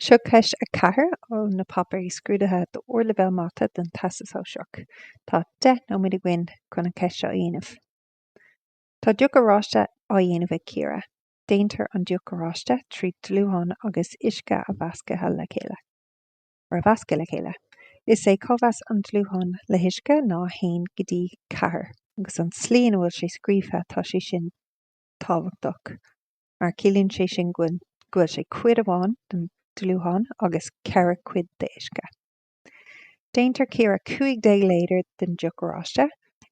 Seo ceist a ceathair ó na páipéir scrúdaithe d'Ardleibhéal Mata don Teastas Sóisearach. Tá deich nóiméad againn chun an cheist seo a dhéanamh. Tá deoch oráiste á déanamh ag Ciara. Déantar an deoch oráiste trí dlúthán agus uisce a mheascadh le chéile. ar a mheascadh le chéile. Is é cóimheas an dlútháin le huisce ná 1 go dtí 4, agus an tslí ina bhfuil sé scríofa tá sé sin tábhachtach. mar ciallaíonn sé sin go bhfuil sé cuid amháin den dlúthán agus ceithre cuid d'uisce. Déanann Ciara 15 lítear den deoch oráiste,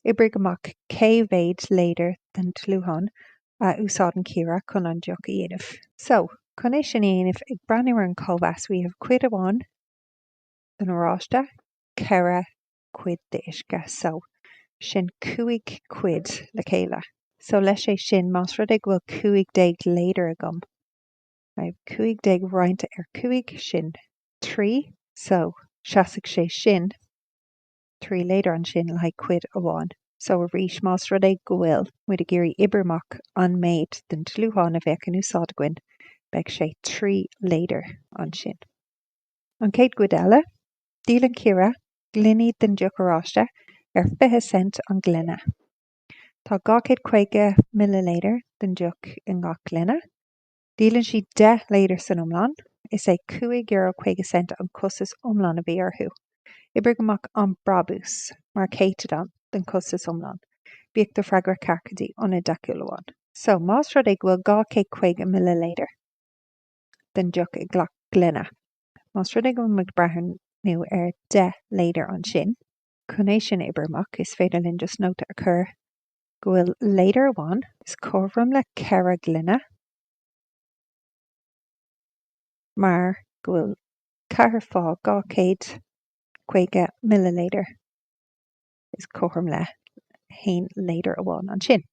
oibrigh amach cé mhéad lítear den dlúthán a úsáideann Ciara chun an deoch a dhéanamh. So, chun é sin a dhéanamh, ag breathnú ar an cóimheas we have cuid amháin den oráiste, ceithre cuid d'uisce so, sin cúig cuid le chéile. So leis sin, más rud é go bhfuil cúig déag lítear agam, I have cúig déag roinnte ar cúig, sin trí, so seasfadh sé sin trí lítear ansin le haghaidh cuid amháin. So arís, más rud é go bhfuil muid ag iarraidh oibriú amach an méid den dlúthán a bheadh in úsáid againn, beidh sé trí lítear ansin. An chéad chuid eile, Díolann Ciara gloiní den deoch oráiste ar 20 cent an gloine. Tá 250 millilítear den deoch i ngach gloine. Díolann sí 10 lítear san iomlán. Is é cúig euro caoga cent an costas iomlán a bhí uirthi. Oibrigh amach an brabús mar chéatadán den chostas iomlán. Bíodh do fhreagra ceart go dtí ionad deachúlach amháin. So, más rud é go bhfuil 250 millilítear. den deoch i ngach gloine. Más rud é go bhfuil muid ag breathnú ar 10 lítear ansin, chun é sin a oibriú amach, is féidir linn just nóta a chur go bhfuil lítear amháin is cothrom le 4 gloine mar go bhfuil ceathair fá 250 millilítear is cothrom le haon lítear amháin ansin.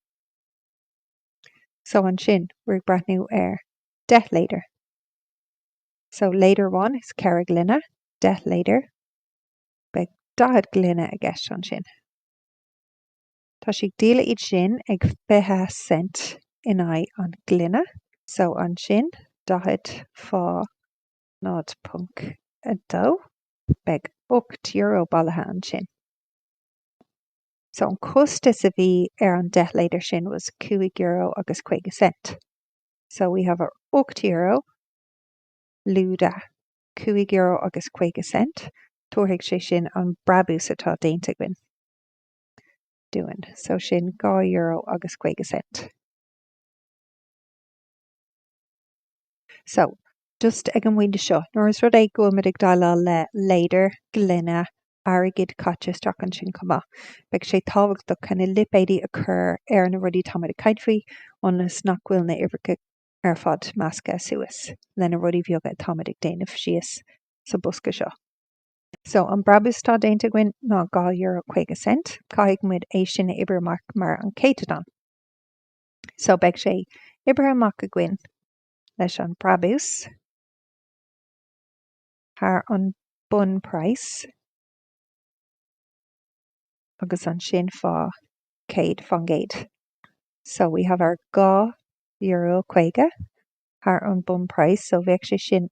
So ansin, we're ag breathnú ar 10 lítear. So lítear amháin is ceithre ghloine, deich lítear. Beidh daichead gloine i gceist ansin. Tá sí ag díol iad sin ag fiche cent in aghaidh an ghloine. So ansin, daichead fá 0.2, beidh ocht euro bailithe ansin. So an costas a bhí ar an deich lítear sin was cúig euro agus caoga cent. So we have our €8, lúide cúig euro agus caoga cent, tabharfaidh sé sin an brabús atá déanta againn dúinn, so sin dhá euro agus caoga cent. So just ag an bpointe seo, nuair is rud é go bhfuil muid ag déileáil le lítear, gloine, airgead caite isteach ansin chomh maith, beidh sé tábhachtach chun na lipéadaí a chur ar na rudaí atá muid ag caint faoi ionas nach bhfuil na uimhreacha ar fad measctha suas le na rudaí bheaga atá muid ag déanamh síos sa bosca seo. So, an brabús atá déanta againn ná dhá euro caoga cent, caithfidh muid é sin a oibriú amach mar an céatadán. So, beidh sé oibrithe amach againn. leis an brabús thar an bunpraghas agus ansin fá 100 fán gcéad. So we have our dhá euro caoga thar an bunpraghas, so bheadh sé sin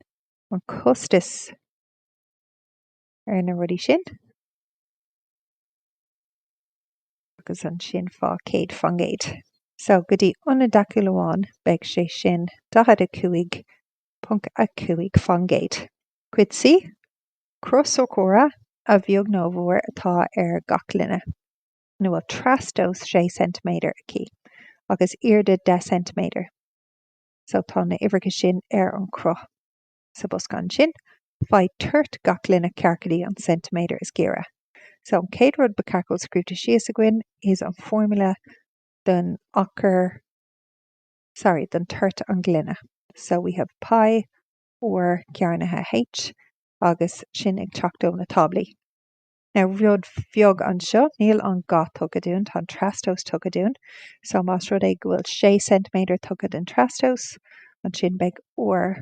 an costas ar na rudaí sin. agus ansin fá chéad fán gcéad so go dtí ionad deachúil amháin, beidh sé sin 45.5 fán gcéad. Cuid C, cruth sorcóra a bheag nó a mhór atá ar gach gloine ina bhfuil trastomhas 6 ceintiméadar aici agus airde 10 ceintiméadar so tá na uimhreacha sin ar an chruth. sa bosca ansin, faigh toirt gach gloine ceart go dtí an ceintiméadar is gaire. So, an chéad rud ba cheart go bhfuil scríobhte síos againn is an formula don achar, sorry, don toirt an ghloine. So, we have pi r cearnaithe h agus sin ag teacht ó na táblaí. Now, rud bheag anseo, níl an ga tugtha dúinn, tá an trastomhas tugtha dúinn. So, más rud é go bhfuil sé ceintiméadar tugtha den trastomhas, ansin beidh r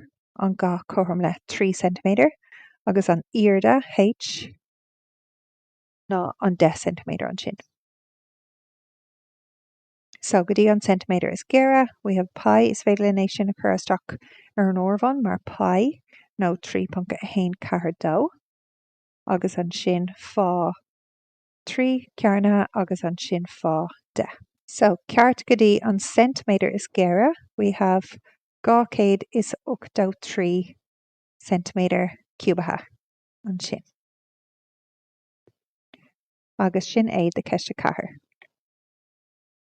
an ga cothrom le trí ceintiméadar, agus an airde, H, ná an deich ceintiméadar ansin. So, go dtí an ceintiméadar is gaire, we have pi, is féidir linn é sin a chur isteach ar an áireamhán mar pi, nó 3.142. agus ansin fá, trí cearnaithe agus ansin fá, deich. So, ceart go dtí an ceintiméadar is gaire, we have 283 ceintiméadar ciúbaithe ansin. Agus sin é do Ceist 4.